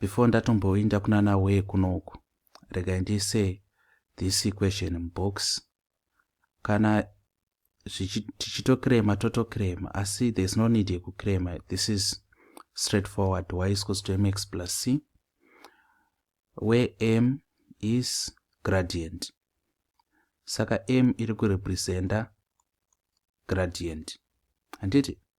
before ndatomboinda kunana wee kunoku regai ndiise this equation mubox kana tichitokirema totokirema asi there's no need yekukirema this is straight forward y is equals to mx plus c where m is gradient saka m iri kurepresenta gradient handiti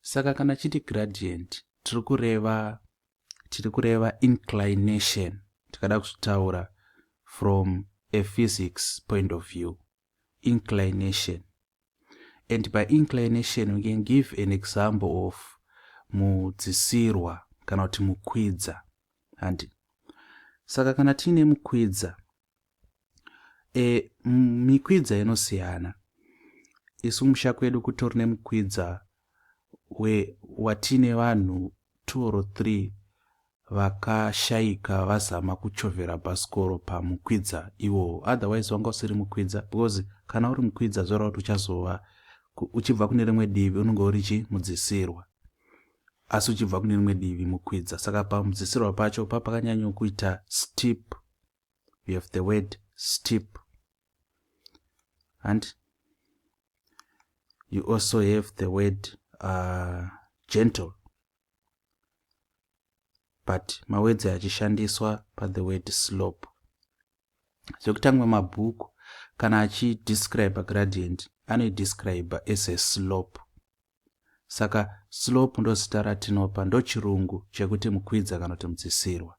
saka kana chiti gradient tiri kureva tiri kureva inclination tikada kuzvitaura from a physics point of view inclination and by inclination we can give an example of mudzisirwa kana kuti mukwidza handi saka kana tiine mukwidza e, mikwidza inosiyana isu kumusha kwedu kutori nemukwidza we watine vanhu two or three vakashaika vazama kuchovhera bhasikoro pamukwidza iwowo otherwise wanga usiri mukwidza because kana uri mukwidza zvoreva kuti uchazova uchibva kune rimwe divi unenge uri chi mudzisirwa asi uchibva kune rimwe divi mukwidza saka pamudzisirwa pacho papakanyanyokuita steep you have the word steep and you also have the word uh, gentle but mawedzi achishandiswa pathe word slope zvekutanga mabhuku kana achidescribe gradient anoidescribe as a slope saka slope ndozita ratinopa ndochirungu chekuti mukwidza kana kuti mudzisirwa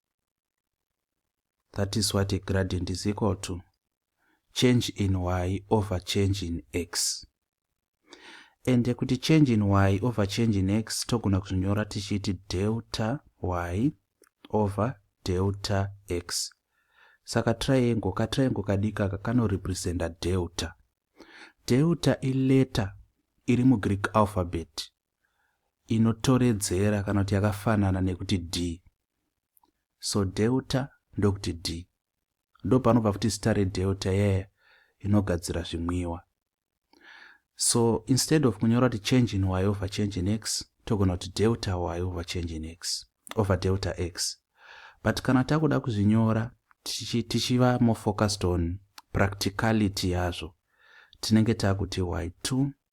That is what a gradient is equal to. Change in y over change in x. And kuti change in y over change in x togona kuzvinyora tichiti delta y over delta x. Saka triangle ka triangle kadika ka kanorepresenta delta. Delta ileta iri mugreek alphabet inotoredzera kana kuti yakafanana nekuti d so delta ndokuti d ndopanobva futi zita redelta yeye inogadzira zvimwiwa so instead of kunyora kuti change in y over change in x togona kuti delta y over change in x over delta x but kana takuda kuzvinyora tichiva more focused on practicality yazvo tinenge takuti y2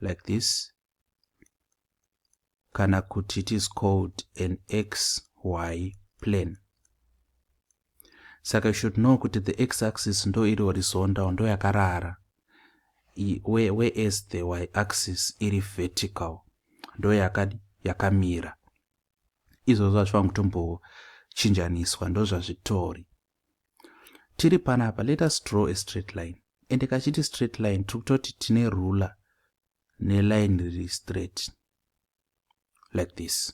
like this kana kuti it is called an xy plane saka you should know kuti the x axis ndo iri horizontal ndo yakarara whereas the y axis iri vertical ndo yakadi yakamira izvozvo hazvifanira kutombochinjaniswa ndo zvazvitori tiri panapa let us draw a straight line ende kachiti straight line tiri kutoti tine ruler neline riri straight like this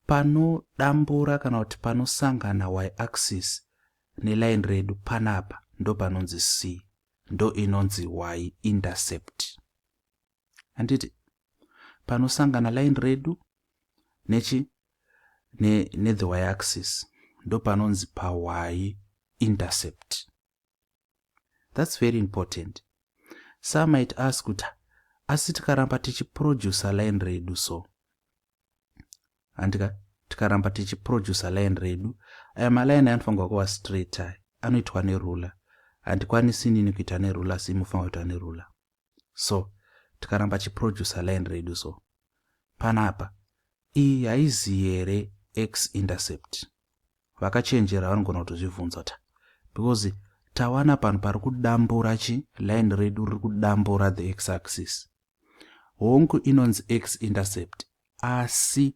panodambura kana kuti panosangana y axis neline redu panapa ndopanonzi c ndo inonzi y intercept handiti panosangana line redu nechi nethe ne y axis ndopanonzi pawayi intercept thats very important some might ask kuti asi tikaramba tichiproducer line redu so handika tikaramba tichiproducer line redu aya maline anofanirwa kuva straight ayo anoitwa neruler handikwanisi nini kuita neruler asi imofanirwa kuita neruler so tikaramba chiproducer line redu so panapa iyi haizi here x intercept vakachenjera vanogona kutozvibvunza ta because tawana panhu pari kudambura chi line redu riri kudambura the x axis hongu inonzi x intercept asi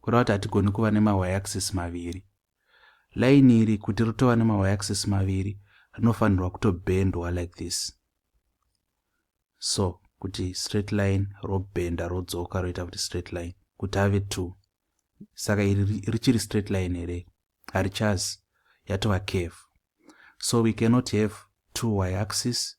kureva kuti hatigoni kuva nemayaxis maviri laini iri kuti ritova nemayaxis maviri rinofanirwa kutobhendwa like this so kuti straight line robhenda rodzoka roita kuti straight line kuti ave two saka iri richiri straight line here harichazi yatova cave so we cannot have two y axis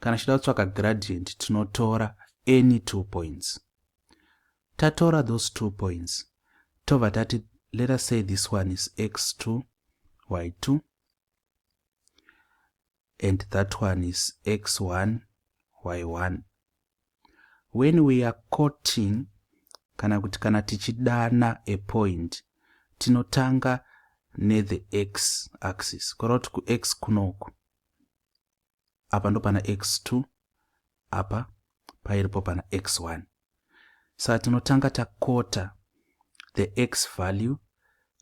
kana tichida kutsvaka gradient tinotora any two points tatora those two points tobva tati let us say this one is x2 y2 and that one is x1 y1 when we are coating kana kuti kana tichidana a point tinotanga nethe x axis kureva kuti kux kunoku apa ndopana x2 apa pairipo pana x1 saka tinotanga takota the x value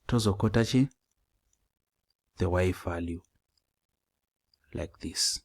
tozokota chi the y value like this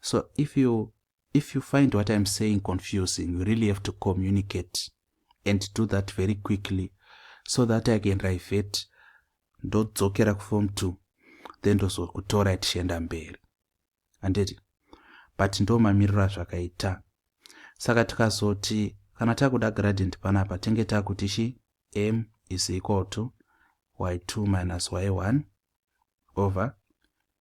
so if you if you find what i'm saying confusing you really have to communicate and do that very quickly so that i can rivert ndodzokera kuform two then ndozokutora tichienda mberi handiti but ndo mamiriro azvakaita saka tikazoti kana takuda gradient panapa tinge takuti chi m is equal to y2 minus y1 over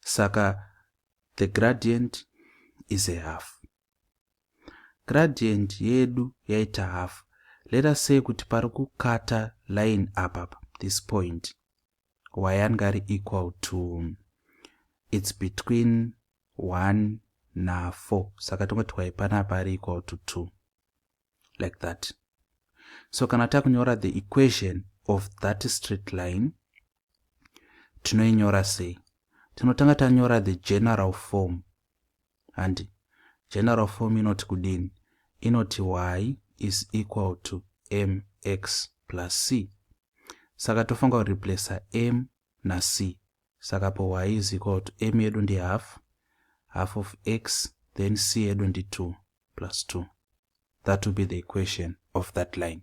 Saka the gradient is a half. Gradient yedu yaita half. Let us say kuti pari kukata line apa this point wayange ari equal to it's between 1 na 4 saka tingoti y panapa ari equal to 2 like that so kana takunyora the equation of that straight line tinoinyora sei tinotanga tanyora the general form handi general form inoti kudini inoti y is equal to mx plus c saka tofanira kureplacer m nac Saka power y is equal to m yedu ndi half, half of x, then c yedu ndi 2 plus 2. That will be the equation of that line.